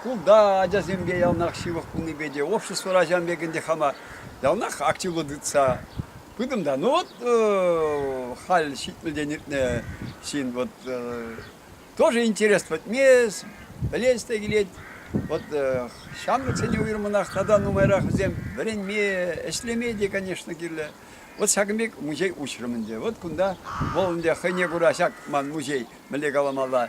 шкулта ачасемпе яланах ҫывӑх пулнипе те, обществӑра ҫавӑн пек ӗнтӗ хама яланах активлӑ тытса пытӑм та. Ну вот халь ҫитмӗлтен иртнӗ ҫын вот тоже интерес пӗтмест, пӗлес те килет. Вот ҫамрӑксене уйрӑмах тата нумайрах вӗсем вӗренме, ӗҫлеме те, конечно, кирлӗ. Вот ҫакӑн пек музей уҫрӑм ӗнтӗ. Вот кунта вӑл ӗнтӗ хӑйне кура ҫак ман музей мӗнле каламалла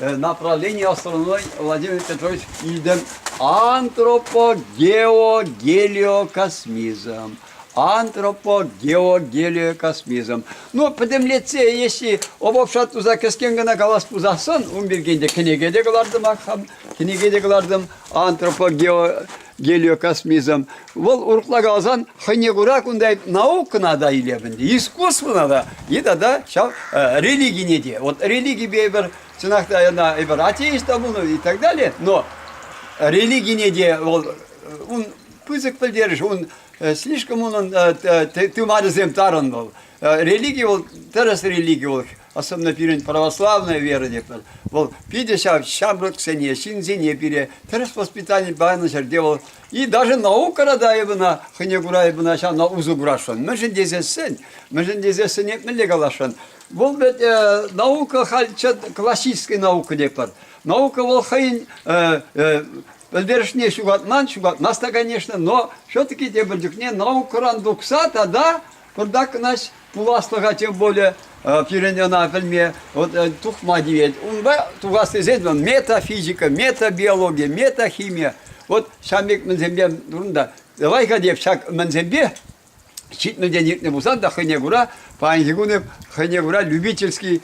направление астрономной Владимир Петрович илтӗм антропогеогелиокосмизм. Антропогеогелиокосмизм. Ну, пӗтӗмлетсе, если обобщат туса кӗскен кӑна калас пулсассӑн, ун пирки кӗнеке те кӑлартӑмах, кӗнеке те кӑлартӑм. Антропогео Гелио Касмизан. Вӑл урӑхла каласан хӑйне кура кунта наукӑна та илеп ӗнтӗ, искусствӑна та и тата ҫав религине те. Вот религипе эпир, чӑнах та, ӑна эпир атеист та пулнӑ и так далее, но религине те вӑл, ун пысӑк пӗлтерӗш, ун слишком унӑн тымарӗсем тарӑн вӑл. Религи вӑл, тӗрӗс религи вӑл особенно пирӗн православная вера тетпӗр, вӑл питӗ ҫав ҫамрӑксене, ҫынсене пире тӗрӗс воспитани панӑ ҫӗрте вӑл и даже наукӑра та эпӗна хӑйне кура эпӗна ҫавна усӑ курасшӑн. Мӗншӗн тесессӗн, мӗншӗн тесессӗн эп мӗнле каласшӑн? Вӑл вӗт э, наука халь классической наука тетпӗр. Наука вӑл хӑйӗн э, э, пӗлтерӗшне ҫухатман, ҫухатмасть та, конечно, но все-таки тепӗр чухне наукӑран тухса тата Кунта кӑнаҫ пуласлӑха тем более пирӗн ӑна пӗлме тухма тивет. Унпа тухас тесен метафизика, метабиология, метахимия вот ҫам пек мӗнсемпе турунта. Давай-ка деп ҫак мӗнсемпе ҫитмӗлтен иртнӗ пулсан та хӑйне кура паянхи кун хӑйне кура любительский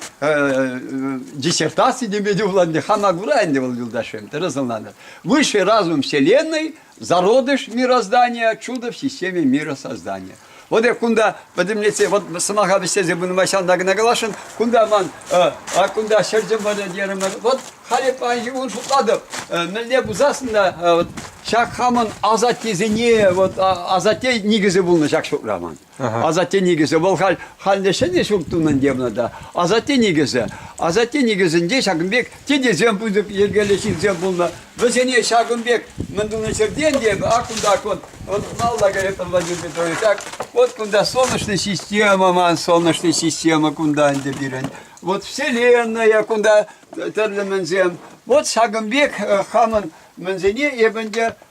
диссертации теме те пулать ӗнтӗ хама кура ӗнтӗ вӑл юлташем тӗрӗс ӑнланать. Высший разум Вселенной зародыш мироздания, чудо в системе миросоздания. Вот я кунда пӗтӗмлетсе, вот сӑмаха вӗҫтерсе пынӑма ҫантан кӑна каласшӑн, кунта ман, а кунта ҫӗрчӗм вара терӗмӗр, вот халӗ паянхи кун шутлатӑп, мӗнле пулсассӑн та, вот ҫак хамӑн асаттесене, вот асатте никӗсӗ пулнӑ ҫак ҫурта ман. Асатте никӗсӗ вӑл халь халне ҫӗнӗ ҫурт тунӑн тевнӗ та. Асатте никӗсӗ. Асатте никӗсӗнче ҫакӑн пек тетесем пысӑк йӗркеллӗ ҫынсем пулнӑ. Вӗсене ҫакӑн пек мӗн тунӑ ҫӗртен те ак кунтах вот вот малла каять Владимир Петрович так вот кунта солнечная система ман солнечная система кунта ӗнтӗ пирӗн вот вселенная кунта тӗрлӗ мӗнсем вот ҫакӑн пек хамӑн мӗнсене эп ӗнтӗ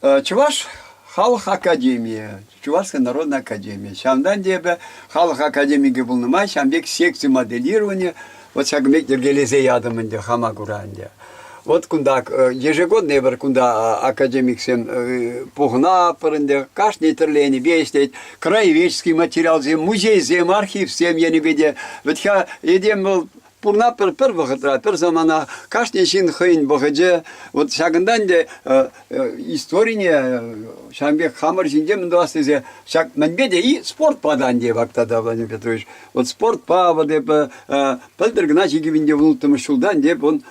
Чӑваш халӑх академийӗ, Чувашская народная академия. Ҫавӑнтан эпӗ халӑх академикӗ пулнӑ май ҫавӑн пек секци моделирования вот ҫакӑн пек йӗркелесе ятӑм ӗнтӗ хама кура ӗнтӗ. Вот кунта ежегодно эпир кунта академиксем пухӑнатпӑр ӗнтӗ. Кашни тӗрлӗ енӗпе ӗҫлет. Краеведческий материалсем, музейсем, архивсем енӗпе те. Вӗт-ха этем вӑл Пурна пӗр, пӗр вӑхӑтра, пӗр самана кашни ҫын хӑйӗн вӑхӑчӗ. Вот ҫакӑнтан те э, э, историне ҫавӑн пек хамӑр ҫинче мӗн тӑвас тесе ҫак мӗнпе те и спортпа та ӗнтӗ Вактата Владимир Петрович. Вот спортпа вот эп э, пӗлтӗр кӑна чикӗвӗнче вунӑлттӑмӗш ҫултан эп он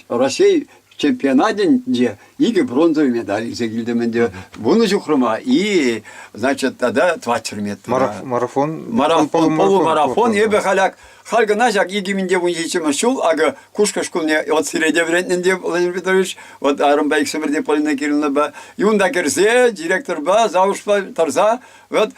России чемпионатӗнче икӗ бронзовый медаль илсе килтӗм ӗнтӗ. Вунӑ ҫухрӑма и, значит, тата 20 метра. Марафон, марафон, полумарафон. Эпӗ халяк, халь кӑна ҫак 2017 ҫул, акӑ, Кушкӑ шкулне вот сиреде вӗрентнӗ ӗнтӗ Владимир Петрович, вот арӑмпа иксӗмӗр те Полина Кирилловнапа. Юнта кӗрсе директорпа, завучпа тӑрса Вот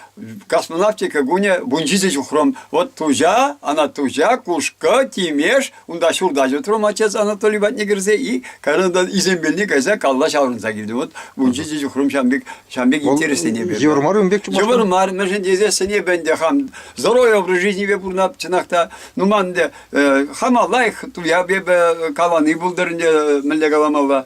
космонавтика кунӗ вунҫичӗ ҫухрӑм. Вот туча, она туча, кушкӑ, тимеш, унта ҫурта ҫутрӑм отец Анатолий патне кӗрсе и кайран изембелне кайса калла ҫаврӑнса килтӗм. Вот вунҫичӗ ҫухрӑм ҫам пек, ҫам пек интереслене берет. Йывӑр мар ун пек? Йывӑр мар, мӗншӗн тесен эп ӗнтӗ хам здоровье образ жизнипе пурнап чӑнах та, ну ман ӗнтӗ хама лайӑх туя эпӗ калани пултӑр ӗнтӗ мӗнле каламалла.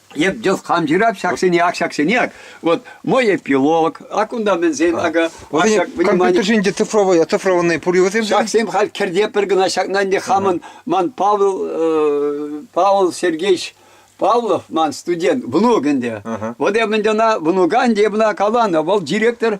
Эп дес хам ҫырап ҫаксене ак ҫаксене ак. Вот мой эпилог. А кунта мӗнсен ака. Компьютерсен те цифровые, цифрованные пурьевосем. Ҫаксем халь кӗрте пӗр кӑна ҫакна ӗнтӗ хамӑн ман Павел Павел Сергеевич Павлов ман студент, внук ӗнтӗ. Вот я ӑна внука ӗнтӗ, ӑна каланӑ. Вӑл директор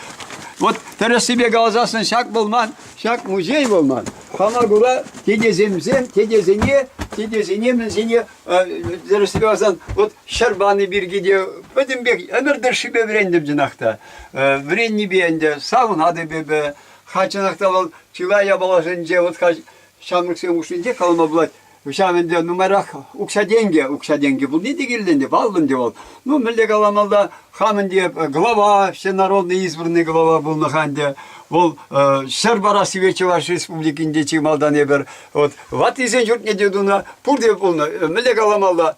Вот тӗрӗссипе каласассӑн ҫак пулман, ҫак музей пулман. Хама кура тетесемсем, тетесене, тетесене мӗнсене, тӗрӗссипе каласан, вот ҫӗр пани пирки те пӗтӗм пек ӗмӗр тӑршшипе вӗрентӗм чӑнах та. Вӗреннипе ӗнтӗ савӑнатӑп эпӗ. Ха чӑнах та вӑл чылай япаласенче вот ха ҫамрӑксем хушшинче калама пулать. Ҫав ӗнтӗ нумайрах укҫа-тенкӗ, укҫа-тенкӗ пулни те кирлӗ ӗнтӗ, паллӑ ӗнтӗ вӑл. Ну, мӗнле каламалла, хам ӗнтӗ глава, Всенародный избранный глава пулнӑ-ха ӗнтӗ. Вӑл ҫӗр парассипе Чӑваш Республикинче чи малтан эпир. Вот ваттисен ҫуртне те тунӑ, пурте пулнӑ. Мӗнле каламалла,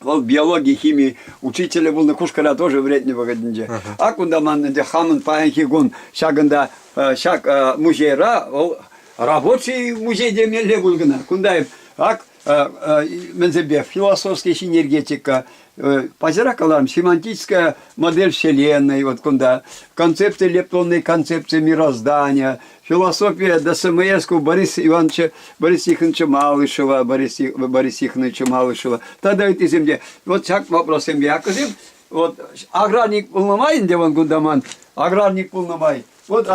Вӑл биологи, хими учителӗ пулнӑ, Кушкӑра тоже вӗрентнӗ вӑхӑтӗнче. Ак унта ман ӗнтӗ хамӑн паянхи кун ҫакӑнта, ҫак музейра вӑл рабочий музей темелле пуль кӑна. Кунта ак мӗнсемпе философский синергетика, паҫӑрах калам, семантическая модель Вселенной, вот кунта концепци, лептонные концепции мироздания, философия ДСМС-ку Борис Ивановича Борисиховича Малышева, Бориси, Борисиховича Малышева тата ыттисем те вот ҫак вопроссем яккӑсем вот аграрник пулнӑ май ӗнтӗ вон кунта ман аграрник пулнӑ май вот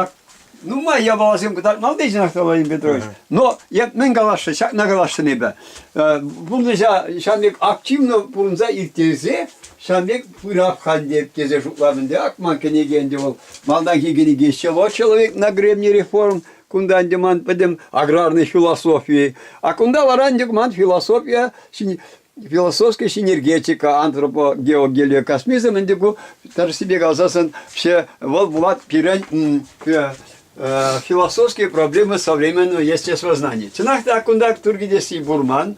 нумай япаласем кӑтартмалли ҫынах Владимир Петрович. Но эп мӗн каласшӑн, ҫакна каласшӑн эпӗ. Пурнӑҫа ҫан пек активно пурӑнса ирттерсе ҫан пек пырап хальде тесе шутлатӑн. Ак ман кӗнеке ӗнтӗ вӑл Малтанхи кӗнеке «Чего человек на гребне реформ?» Кунта ӗнтӗ ман пӗтӗм аграрный философи. А кунта вара ӗнтӗ ман философия, философская синергетика, антропогеогелиокосмизм ӗнтӗ ку тӗрӗссипе каласассӑн все вӑл Влад пирӗн философские проблемы современного естествознания. Чӑнах та кунта туркӗтесси пурман,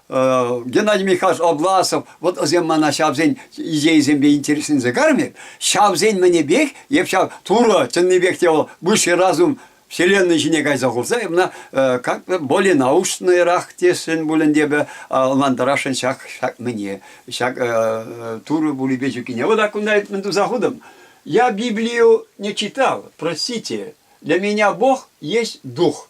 Геннадий Михайлович Обласов, вот осем мана ҫавсен идейӑсемпе интересленсе кармет, ҫавсен мӗнепех, эп ҫав Турӑ чӑннипех те вӑл высший разум Вселенной ҫине кайса хурса, мына как-то более научнӑйрах тесшӗн пулин те ӑнлантарасшӑн ҫак, ҫак мӗне, ҫак Турӑ пулипе чӳккине. Вот так кунта мӗн туса хутӑм. Я Библию не читал, простите. Для меня Бог есть Дух.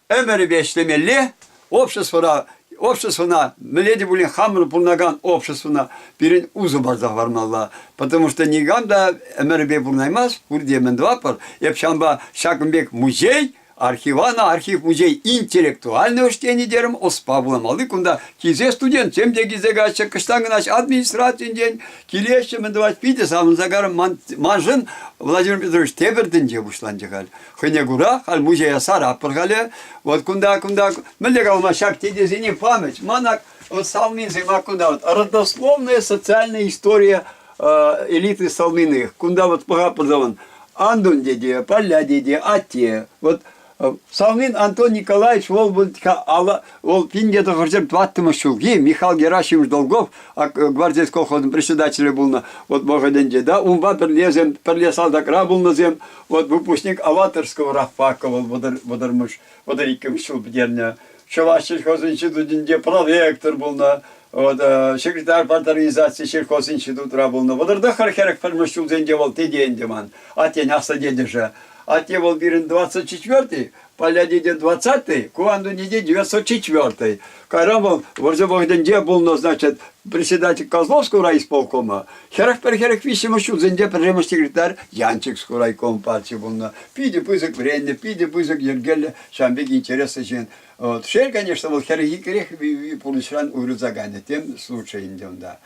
ӗмӗрӗпе ӗҫлемелле, обществӑра, обществӑна, мӗнле те пулин хамӑр пурӑнакан обществӑна пирӗн усӑ парса хӑвармалла. Потому что никам та ӗмӗрӗпе пурӑнаймасть, пурте мӗн тӑватпӑр. Эп ҫавӑнпа ҫакӑн пек музей, архивана архив музей интеллектуальное учреждение терӗм, ӑспа вуламалли кунта килсе студентсем те килсе каҫҫӗ, кӑштан кӑна администрацинчен килеҫҫӗ, мӗн тӑвать, питӗ савӑнса карӑм. Маншӑн Владимир Петрович тепӗр тӗнче пуҫланчӗ халь. Хӑйне кура, халь музея саратпӑр халӗ. Вот кунта, кунта, мӗнле калама, ҫак тетесене память. Манак вот Салминцы, мак кунта вот родословная социальная история э, элиты Салминых. Кунта вот пӑхаппӑр Андун деде, Поля деде, атте. Вот Салмин Антон Николаевич ол ол пинде хыржем тваттымыш ҫулки Михаил Герасимович Долгов гвардейский колхозын председателӗ пулнӑ вот вӑхӑтӗнче да унпа пӗрле пӗрле салтакра пулнӑсем Вот выпускник Аваторского Рафака вӑл вӑтӑрмӗш, вӑтӑр иккӗмӗш ҫул пӗтернӗ. Чӑваш сельхоз институтӗнче проректор пулнӑ, вот, э, секретарь парторганизации сельхоз институтра пулнӑ. Вӑтӑртӑххӑр хӗрӗх пӗрмӗш ҫулсенче вӑл тете ӗнтӗ ман, аттен аслӑ тетӗшӗ. Атте вӑл пирӗн 24-й, Палятинӗн двадцатый, ку андунине девяносто четвертый. Кайран вӑл вӑрҫӑ вӑхӑтӗнче пулнӑ, значит, председатель Козловского райисполкома, хӗрӗх пӗр хӗрӗх виҫҫӗмӗш ҫулсенче пӗрремӗш секретарь Янчикского райком партии пулнӑ. Питӗ пысӑк вӗреннӗ, питӗ пысӑк йӗркеллӗ, ҫавӑн пек интереслӗ ҫын. Вот. Шел, конечно, вӑл хӗрӗх иккӗрех пурнӑҫран уйрӑлса кайнӑ, тем лучше ӗнтӗ унта.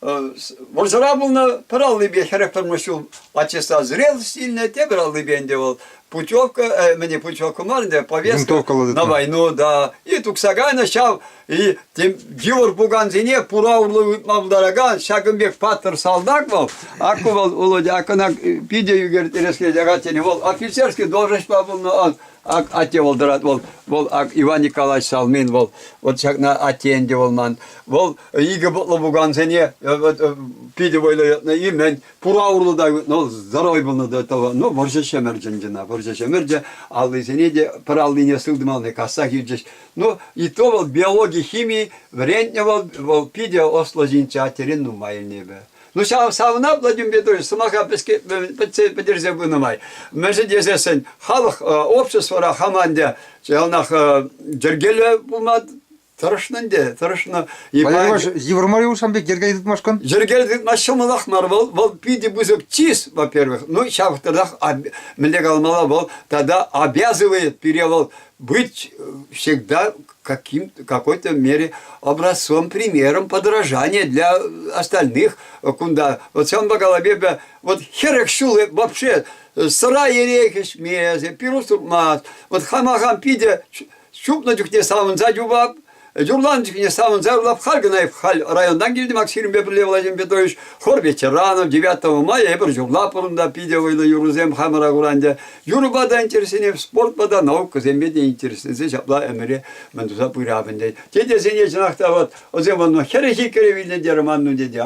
Вӑрҫӑра пулнӑ, пӗр аллипе хӗрӗх тӑрмӑш ҫул ачӑсса зрелость илнӗ, тепӗр аллипе ӗнтӗ вӑл путевка, э, мӗне путевка мар ӗнтӗ, повестка на войну, да, и тухса кайнӑ ҫав, и йывӑр пукансене пура урлӑ ытма пултаракан ҫакӑн пек паттӑр салтак вӑл, акку вӑл Володя, аккана питӗ ӳкертереске ягать, тени вӑл офицерский должноҫпа пулнӑ, атте вӑл тӑрат, вӑл, вӑл Иван Николаевич Салмин вӑл, вот ҫакна атте ӗнтӗ вӑл ман, вӑл икӗ пӑтлӑ пукансене питӗ вӑйлӑ йӑтнӑ-и-мӗн, пура урлӑ та ну, здоровый пулнӑ до того. Ну, вӑрҫӑ ҫӗмӗрчӗн кӑна, вӑрҫӑ ҫӗмӗрчӗ, аллисене те, пӗр аллине сылтӑмалли касса хирчӗҫ. Ну, и то вӑл биологи, хими вӗрентнӗ вӑл, вӑл питӗ ӑслӑ ҫынччӗ, а терен нумайӑннипе. Ну, ҫав савӑнапла тӳмпе той сӑмаха пӗтерсе пынӑ май. Мӗншӗн тесессӗн халӑх, обществӑра хаман те яланах йӗркеллӗ пулма Тӑрӑшнӑ ӗнтӗ, тӑрӑшнӑ. Йывӑр мар юл сан пек йӗрке тытмашкӑн? Йӗрке тытмас ҫӑмӑлах мар вӑл. Вӑл питӗ пысӑк чыс, во-первых. Ну, ҫав тӑрах мӗнле калмалла, вӑл тата обязывает пире вӑл быть всегда каким, какой-то мере образцом, примером подражания для остальных кунта. Вот сан голове вот херек ҫулы вообще сыра ерей хӗҫмес, пирус турмас. Вот хамахам питӗ Чупнӑ чухне савӑнса юпап, юрланӑ чухне савӑнса юрлап, халь кӑна халь районтан килтӗм Аксирӗнпе пӗрле Владимир Петрович, хор ветеранов, 9 мая эпир юрлатпӑр унта питӗ вӑйлӑ юрӑсем хамӑра курантя. Юрӑпа та интересленет, спортпа та, наукӑсемпе те интересленсе ҫапла ӗмӗре мӗн туса пырап ӗнтӗ. Тетесене чӑнах та вот, ӑсем хӗрӗ хиккӗре вилнӗ терӗ манну тете.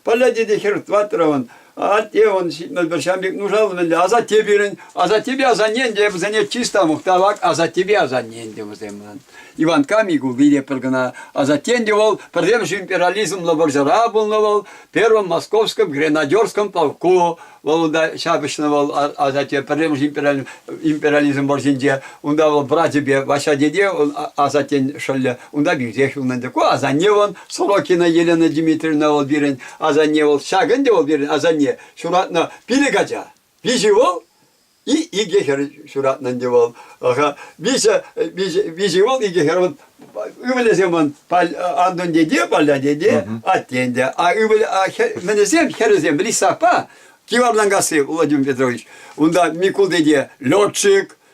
Палля тете хӗр тӑваттӑравӑн Атте он ҫам пек нушал мӗнле, асатте пирӗн, асаттепе асаннен те вӗсене чисто мухтавак асаттепе асаннен те вӗсем ман. Иванка Микул вире пӗр кӑна, асаттен те вӑл пӗрремӗш империализмлӑ вӑрҫӑра пулнӑ вӑл, первым московском гренадерском полку, вӑл да ҫапӑҫнӑ вӑл асатте пӗрремӗш империализм вӑрҫинче, унта вӑл братьепе, Ваҫа деде асаттен шӑллӗ, унта пӳсех юлнӑ ӗнтӗ. Ку асанне вӑл, Сорокина Елена Дмитриевна вӑл пирӗн, Асанне вӑл ҫак ӗнтӗ вӑл пирӗн асанне ҫуратнӑ пилӗк ача. Виҫӗ вӑл и икӗ хӗр ҫуратнӑ ӗнтӗ вӑл. Виҫӗ, виҫӗ, виҫӗ вӑл, икӗ хӗр. Ывӑлӗсем вон Антон дедне, Паля деде, аттен те. А ывӑлӗ, а мӗнесем, хӗрӗсем Лисапа, Киварланкасси Владимир Петрович. Унта Микул деде летчик,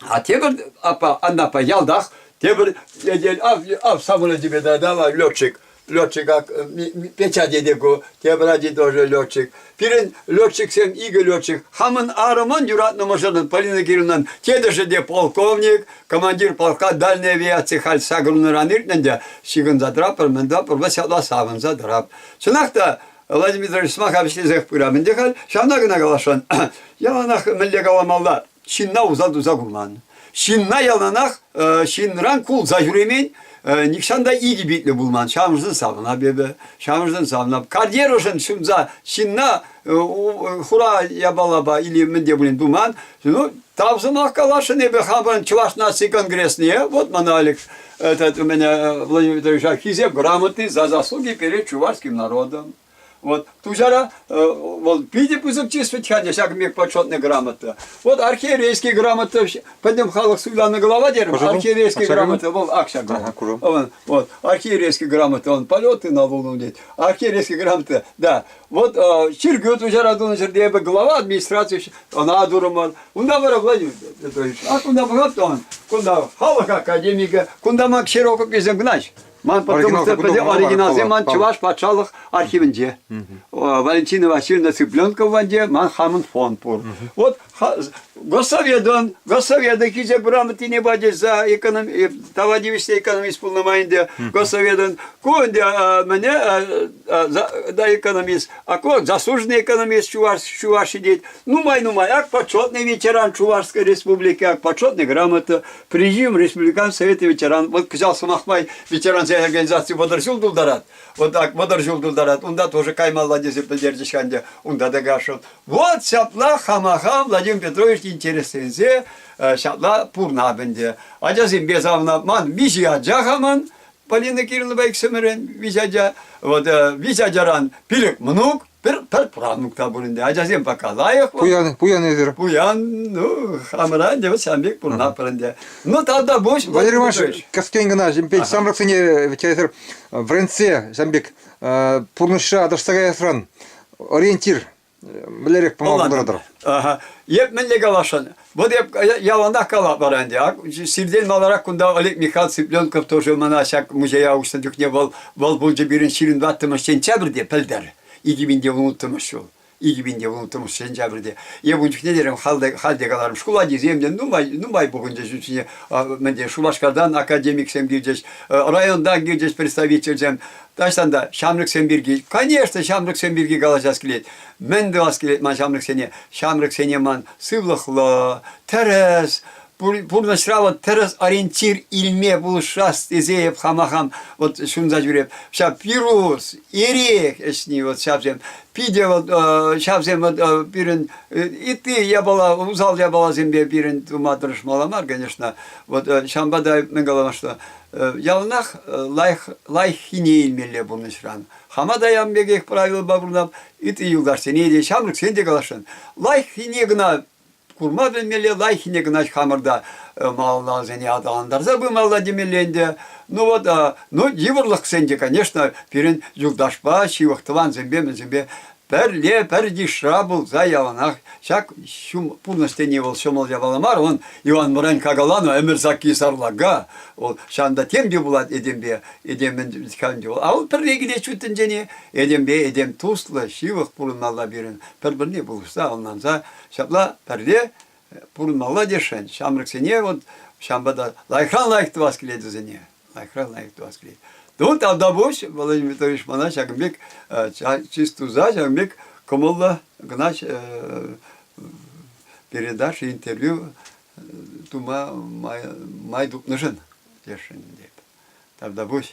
А тепӗр апа, Аннапа ялтах тепӗр этел ав, ав самолет тебе дала летчик. Летчика печатеде ку, тепӗр ачи тоже летчик. Пирӗн летчиксем икӗ летчик. Хамӑн арӑман юратнӑ мӑшӑрӑн Полина Кировнан тетӗшӗ те полковник, командир полка дальней авиации халь сакӑрнӑран иртнӗ те ҫыхӑнса тӑраппӑр, мӗн тӑраппӑр, вӑл ҫапла савӑнса тӑрап. Чӑнах та Владимир Ильич сӑмаха вӗҫлесех пырам ӗнтӗ халь, ҫавна кӑна каласшӑн. Яланах мӗнле каламалла? ҫынна усал туса курман. Ҫынна яланах э, ҫынран кулса ҫӳремен, э, нихҫан та икӗ питлӗ пулман. Чамшӑн савнап эпӗ, чамшӑн савнап. Карьерӑшӑн ҫунса ҫынна э, хура япалапа или мӗнте пулин туман. Ну, тав сӑмах каласшӑн эпӗ хамӑрӑн Чӑваш наци конгресне. Вот мана Олег этот, у меня Владимир Витальевич Хисеп грамотный за заслуги перед чувашским народом. Вот Тучара вӑл питӗ пысӑк числить-ха те ҫак мек почетная грамота. Вот архиерейский грамота, пӗтӗм халӑх суйланӑ глава терем, архиерейский грамота вӑл ак ҫак. Вот архиерейский грамота, он полеты на Луну дет. Архиерейский грамота, да. Вот чиргӳ Тучара тунӑ ҫӗрте эпӗ глава администраци ӑна дурӑмӑр. Унта вара Владимир Петрович, а кунта пулать он, кунта халӑх академикӗ, кунта мак широкописен гнач. Ман потомство оригиналсем ман Чӑваш патшалӑх архивӗнче. Валентина Васильевна Цыпленкова ванде ман хамӑн фонд пур. Вот Госсоведон, Госсовета кисе грамотине бачеса эконом, товарищество экономист полномайінде Госсоведон кунде мне да экономист, а ко заслуженный экономист Чуваш, Чуваш сидит. Ну май, ну май, ак почетный ветеран Чувашской республики, ак почетный грамота, Президиум республикан Советы ветеран, вот кӑҫал сӑмах май ветерансен организаци мӑнтӑр ҫул тултарать. Вот так, мӑнтӑр ҫул тултарать. Унта тоже каймалла тесе пӗлтерчӗҫ ӗнтӗ. Унта та кашӑн. Вот ҫапла хамаха Владимир Петрович интересленсе э, ҫапла пурнап ӗнтӗ. Ачасемпе савнап ман виҫи ача хаман, Полина Кириллова иксӗмӗрен виҫ ача. Вот э, виҫ ачаран пилӗк мӑнук, Пӗр, пӗр правнук та пур ӗнтӗ. Ачасем пока лайӑхлӑх. Пуян, пуян эсир. Пуян, ну, хамӑра ӗнтӗ вот сан пек пурӑнатпӑр ӗнтӗ. Ну, тавта пуҫ. Валерий Иванович, кӗскен кӑна ҫын пек ҫамрӑксене ведь эсир вӗрентсе ҫын пек пурнӑҫра аташса каясран ориентир мӗнлерех пама пултаратӑр? Эп мӗнле каласшӑн? Вот я яланах калатпар ӗнтӗ. Сиртен маларах кунта Олег Михайлович Цыпленков тоже мана ҫак музея уҫнӑ чухне вӑл вӑл пулчӗ пирӗн ҫирӗн ваттӑмӗш сентябрьте пӗлтер. Икӗ мин те унӑттӑмӗш ҫул. Икӗ мин те унӑттӑмӗш сентябрьте. Эп ун чухне терем халде халде каларӑм шкул ачисем те нумай нумай пухӑнчӗҫ ӳсне мӗнде Шупашкартан академиксем килчӗҫ, районтан килчӗҫ представительсем. Таҫтан та ҫамрӑксем пирки. Конечно, ҫамрӑксем пирки калаҫас килет. Мӗн тӑвас килет ман ҫамрӑксене? Ҫамрӑксене ман сывлӑхлӑ, тӗрӗс, пурнӑҫра вот тӗрӗс ориентир илме пулӑшас тесе эп хама хам вот ҫунса ҫӳреп. Ҫав вирус, эрех ӗҫни вот ҫавсем. Питӗ вот ҫавсем вот пирӗн ытти япала, усал япаласемпе пирӗн тума тӑрӑшмалла мар, конечно. Вот ҫавӑнпа та мӗн каламашла, яланах лайӑх, лайӑххине илмелле пурнӑҫран. Хама та ям пекех правилӑпа пурӑнам. Ытти юлташсене те, ҫамрӑксене те каласшӑн. Лайӑххине кӑна курма пӗлмелле, лайӑххине кӑна хамӑрта э, малалла вӗсене аталантарса пымалла темелле ӗнтӗ. Ну вот, а, ну йывӑрлӑхсен те, конечно, пирӗн юлташпа, ҫывӑх тӑвансемпе, мӗнсемпе Пӗрле пӗр йышра пулса яланах ҫак ҫум пурнӑҫ тени вӑл ҫӑмӑл япала мар, он Иван Врань какалану ӗмӗр сакки сарлака, ол ҫанта темпе пулать этемпе, этемӗн каланчу. А ол пӗрре килет ҫут тӗнчене, этемпе этем туслӑ, ҫывӑх пурӑнмалла пирӗн, пӗр-пӗрне пулӑшса, ӑнланса, ҫапла пӗрле пурӑнмалла тесшӗн. Ҫамрӑксене вот ҫавӑнпа та лайӑхран лайӑх тӑвас килет вӗсене. лайӑхра лайӑх тӑвас килет. Ну, тавда пуҫ, Владимир Викторович, мана ҫакӑн пек чыс туса, ҫакӑн пек кӑмӑллӑ кӑна передача, интервью тума май, май тупнӑшӑн тесшӗн тетӗп. Тавда пуҫ.